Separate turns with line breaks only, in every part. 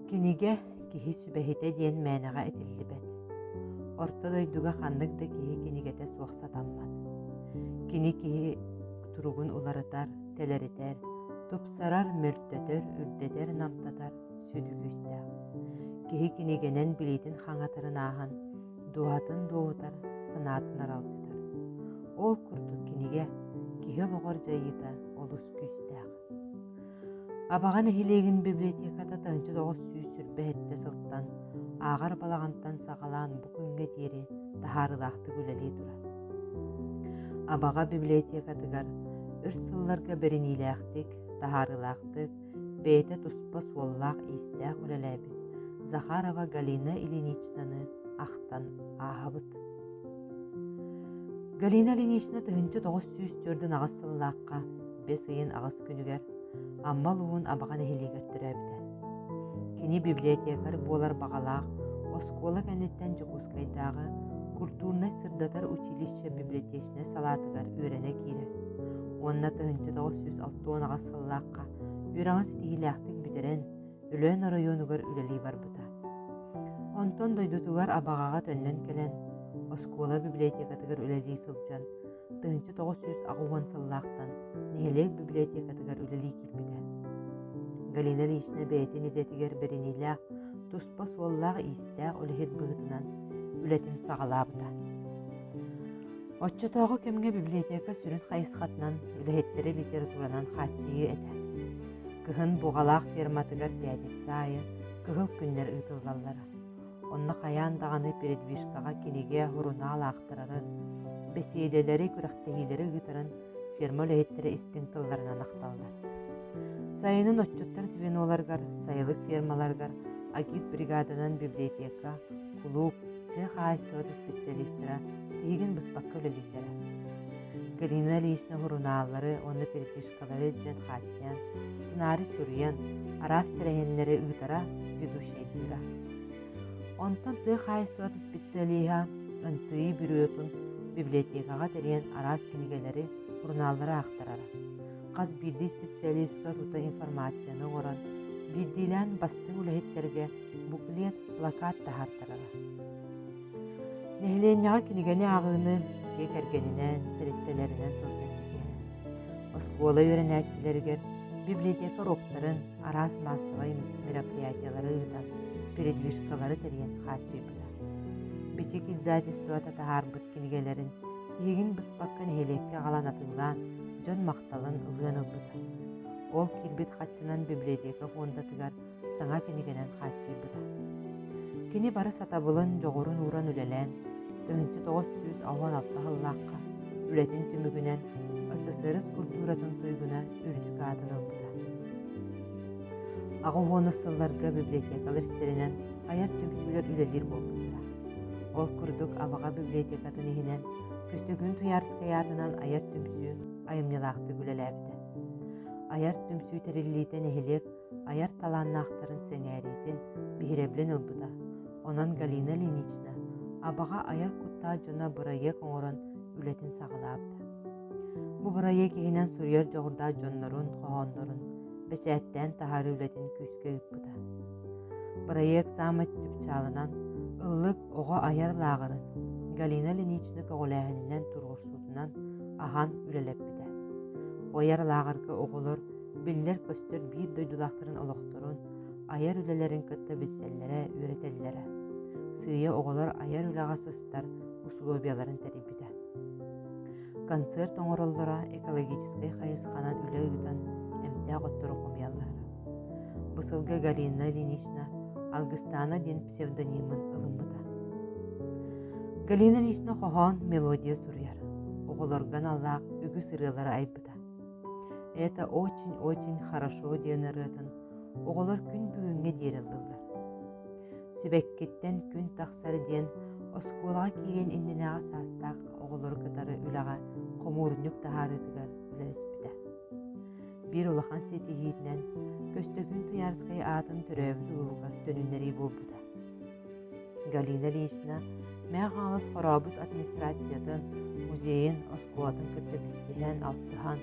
Кинигэ киһи сүбэһитэ диэн мээнэҕэ этиллибэт. Орто дойдуга ханнык да киһи кинигэтэ суох сатаммат. Кини киһи туругун уларытар, тэлэритэр, тупсарар, мөлтөтөр, үрдэтэр, намтатар сүдү күүстээх. Киһи кинигэнэн билиитин хаҥатарын ааһан, дууһатын дуоһутар, санаатын аралдьытар. Ол курдук кинигэ киһи олоҕор дьайыыта олус күүстээх. Абаҕа нэһилиэгин библиотеката тыһыынча тоҕус сүүс сүрбэһиттэ сылтан ааҕар балаҕантан саҕалаан бу күҥҥэ диэри таһаарыылаахтык үлэлии турар. Абаҕа библиотекатыгар өр сылларга бэриниилээхтик, таһаарыылаахтык бэйэтэ туспа суоллаах-иистээх үлэлээбит Захарова Галина Ильиничнаны ахтан ааһабыт. Галина Ильинична тыһынча тоҕус сүүс төрдүн аҕыс сыллаахха бэс ыйын аҕыс күнүгэр Аммал уун Абаҕа нэһилиэгэр төрөөбүтэ. Кини библиотекарь буолар баҕалаах оскуола кэнниттэн Дьокуускайдааҕы культурнай-сырдатар училище библиотечнай салаатыгар үөрэнэ киирэр. Уонна тыһынча тоҕус сүүс алта уон аҕыс сыллаах сылдьыбакка, үөрэҕи ситиһиилээхтик бүтэрэн, Өлөөн оройуонугар үлэлии барбыта. Онтон дойдутугар Абаҕаҕа төннөн кэлэн, оскуола библиотекатыгар үлэлии сылдьан, тыһыынча тоҕус сүүс аҕыс уон сыллаахтан нэһилиэк библиотекатыгар үлэлии киирбитэ. Галина Ильична бэйэтин идэтигэр бэриниилээх, туспа суоллаах-иистээх үлэһит быһыытынан үлэтин саҕалаабыта. Оччотооҕу кэмҥэ библиотека сүрүн хайысхатынан үлэһиттэри литературанан хааччыйыы этэ. Кыһын Буҕалаах ферматыгар пятница айы кыһыл күннэр ыытыллаллара. Онно хайаан даҕаны передвижкаҕа кинигэ, сурунаал аахтарары, бэсиэдэлэри, күрэхтэһиилэри ыытарын ферма үлэһиттэрэ истиҥ тылларынан ахталлар. Сайынын отчуттар звеноларыгар, сайылык фермаларыгар агитбригаданан библиотека, кулууп, тыа хаһаайыстыбатын специалистара тиһигин быспакка үлэлииллэрэ. Галина Ильична сурунааллары уонна перепискалары дьэн хааччыйан, сценарий суруйан, араас тэрээһиннэри ыытара, ведущайдыыра. Онтон тыа хаһаайыстыбата специалиһа ынтыйыы бүрүөтун библиотекаҕа тэрийэн араас кинигэлэри, сурунааллары аахтарара. Хас биирдии специалистка тута информацияны оҥорон, биирдиилээн бастыҥ үлэһиттэргэ буклет, плакат таһаартарара. Нэһилиэнньэҕэ кинигэни ааҕыыны дьиэ кэргэнинээн, тэрилтэлэринэн сылдьан ситиһэрэ. Оскуола үөрэнээччилэригэр библиотека уруоктарын, араас маассабай мероприятиелары ыытан, передвижкалары тэрийэн хааччыйбыта. Бичик издательствота таһаарбыт кинигэлэрин тиһигин быспакка нэһилиэккэ аҕалан атыылаан, дьон махталын ылыан ылбыта. Ол киирбит хаччынан библиотека фондатыгар саҥа кинигэнэн хааччыйбыта. Кини бары сатабылын, дьоҕурун ууран үлэлээн, тыһыынча тоҕус сүүс алуан алта сыллаахха үлэтин түмүгүнэн СССР культуратын туйгуна үрдүк аатын ылбыта. Аҕа уонус сылларга библиотекалар истэринэн айар түмсүүлэр үлэлиир буолбуттара. Ол курдук Абаҕа библиотекатын иһинэн Күстүгүн Туярскай аатынан айар түмсүү айымньылаахтык үлэлээбитэ. Айар түмсүү тэриллиитэ нэһилиэк айар талааннаахтарын сэҥээриитин биһирэбилин ылбыта. Онон Галина Ильинична Абаҕа айар куттаах дьоно бырайыак оҥорон үлэтин саҕалаабыта. Бу бырайыак иһинэн суруйар дьоҕурдаах дьоннорун, хоһооннорун бэчээттээн таһаарыы үлэтин күүскэ ыыппыта. Бырайыак саамай чыпчаалынан ыллык оҕо айар лааҕырын Галина Ильинична көҕүлээһининэн тургурсуутунан аһан үлэлэппитэ. Бу айар лааҕырга оҕолор биллэр-көстөр биир дойдулаахтарын олохторун, айар үлэлэрин кытта билсэллэрэ, үөрэтэллэрэ. Сыыйа оҕолор айар үлэҕэ сыстар усулуобуйаларын тэрийбитэ. Концерт оҥороллоро экологическай хайысханан үлэ ыытан эмтээх оттору хомуйаллара. Бу сылга Галина Ильинична Алгыстана диэн псевдонимын ылыммыта. Галина Ильинична хоһоон, мелодия суруйар. Оҕолорго аналлаах үгүс ырыалары айбыта. Это очень-очень хорошо диэн ырыатын оҕолор күн бүгүҥҥэ диэри ыллылар. Сибэккиттэн күн тахсар диэн оскуолаҕа киириэн иннинээҕи саастаах оҕолору кытары үлэҕэ хомуурунньук таһаарыытыгар үлэлэспитэ. Биир улахан ситиһиитинэн Көстөкүүн Туйаарскай аатын төрөөбүт улууһугар төнүннэрии буолбута. Галина Ильична Мэҥэ Хаҥалас Хорообут администрациятын, музейын, оскуолатын кытта билсиһэн, алтыһан,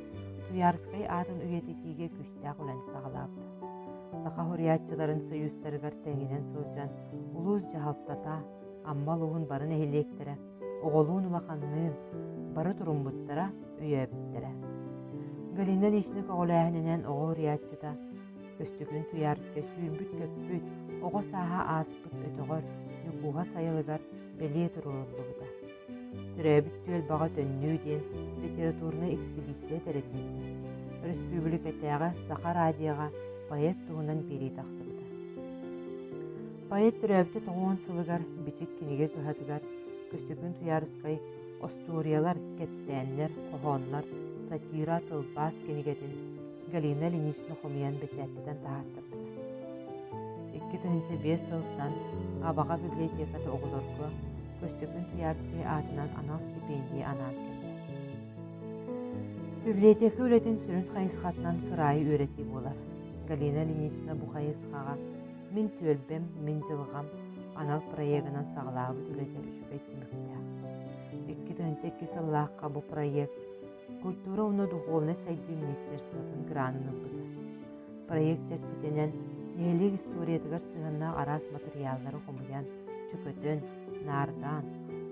Туйаарыскай аатын үйэтитиигэ күүстээх үлэни саҕалаабыта. Саха уһуйааччыларын сойуустарыгар тэҥинэн сылдьан улуус дьаһалтата, Амма улууһун бары нэһилиэктэрэ оҕолуун улаханныын бары туруммуттара, өйөөбүттэрэ. Галина Ильична көҕүлээһининэн оҕо уһуйааччыта Өстөкүн туйаарыска сүүрбүт-көппүт, оҕо сааһа ааспыт өтөҕөр, ньукууһа сайылыгар бэлиэ туруоруллубута. Төрөөбүт түөлбэҕэ төннүү диэн литературнай экспедиция тэриллибитэ. Өрөспүүбүлүкэтээҕи Саха радиоҕа поэт туһунан биэрии тахсыбыта. Поэт төрөөбүтэ тоҕуон сылыгар Бичик кинигэ кыһатыгар Көстөкүн Туйаарыскай остуоруйалар, кэпсээннэр, хоһооннор, сатира, тылбаас кинигэтин Галина Ильинична хомуйан бэчээттэтэн таһаартарбыта. Икки тыһыынча биэс сылтан Абаҕа библиотеката оҕолорго Көстөкүн Куярский аатынан анал стипендии анаан кэллэ. Библиотека үлэтин сүрүн хайысхатынан кыраайы үөрэтии буолар. Галина Ильинична бу хайысхаҕа мин түөлбэм, мин дьылҕам анал проегынан саҕалаабыт үлэтэ үчүгэй түмүктээх. Икки тыһыынча икки сыллаахха бу проект Культура уонна духуобунай сайдыы министерствотын гранын ылбыта. Проект чэрчитинэн нэһилиэк историятыгар сыһыаннаах араас матырыйааллары хомуйан, чөкөтөн, наардаан,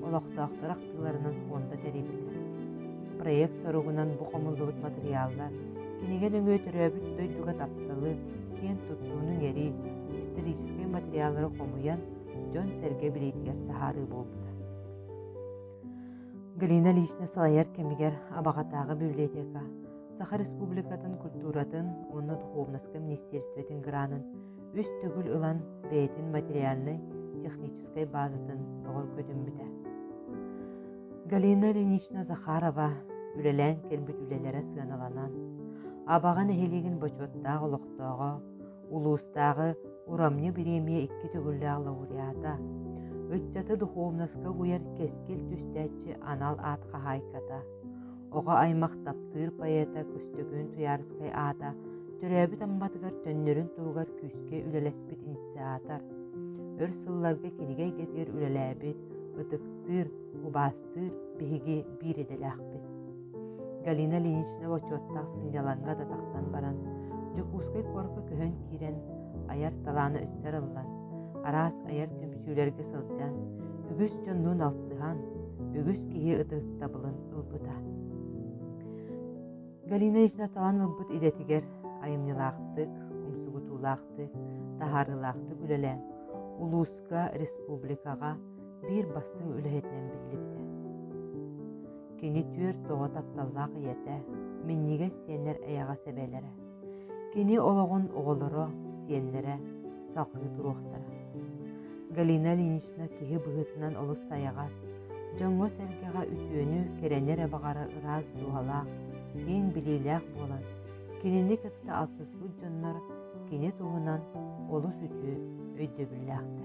олохтоохтор ахтыыларынан фонда тэрийбитэ. Проект соругунан бу хомуллубут матырыйааллар кинигэ нөҥүө төрөөбүт дойдуга тапталы, киэн туттууну иҥэрии, историческай материаллары хомуйан, дьон-сэргэ билиитигэр таһаарыы буолбута. Галина лично салайар кэмигэр Абаҕатааҕы библиотека Саха Республикатын культуратын уонна духовноска министерствотын гранын үс төгүл ылан бэйэтин материальнай техническай базатын бөҕөргөтүммүтэ. Галина Ильинична Захарова үлэлээн кэлбит үлэлэрэ сыаналанан, Абаҕа нэһилиэгин бочуоттаах олохтооҕо улуустааҕы урамньы бириэмийэ икки төгүллээх лауреата, ыччаты духовноска угуйар кэскил түстээччи анал аат хаһаайката, оҕо аймах таптыыр поэта Көстөкүүн Туйаарыскай аата төрөөбүт Амматыгар төннөрүн туһугар күүскэ үлэлэспит инициатор, өр сылларга кинигэ эйгэтигэр үлэлээбит, ытыктыыр, убаастыыр биһиги биир идэлээхпит. Галина Ильинична бочуоттаах сынньалаҥга да тахсан баран, Дьокуускай куоракка көһөн киирэн, айар талаана үссэ арыллан, араас айар түмсүүлэргэ сылдьан, үгүс дьоннуун алтыһан, үгүс киһи ытыктабылын ылбыта. Галина Ильинична талан ылбыт идэтигэр айымньылаахтык, умсугутуулаахтык, таһаарыылаахтык үлэлээн, улууска, республикаҕа биир бастыҥ үлэһитинэн биллибитэ. Кини түөрт оҕо тапталлаах ийэтэ, минньигэс сиэннэр эйэҕэс эбээлэрэ. Кини олоҕун оҕолоро, сиэннэрэ салҕыы туруохтара. Галина Ильинична киһи быһыытынан олус сайаҕас, дьоҥҥо-сэргэҕэ үтүөнү, кэрэни эрэ баҕара ыраас дууһалаах, киэҥ билиилээх буолан, кинини кытта алтыспыт дьоннор кини туһунан олус үтүө өйдөбүллээхтэр.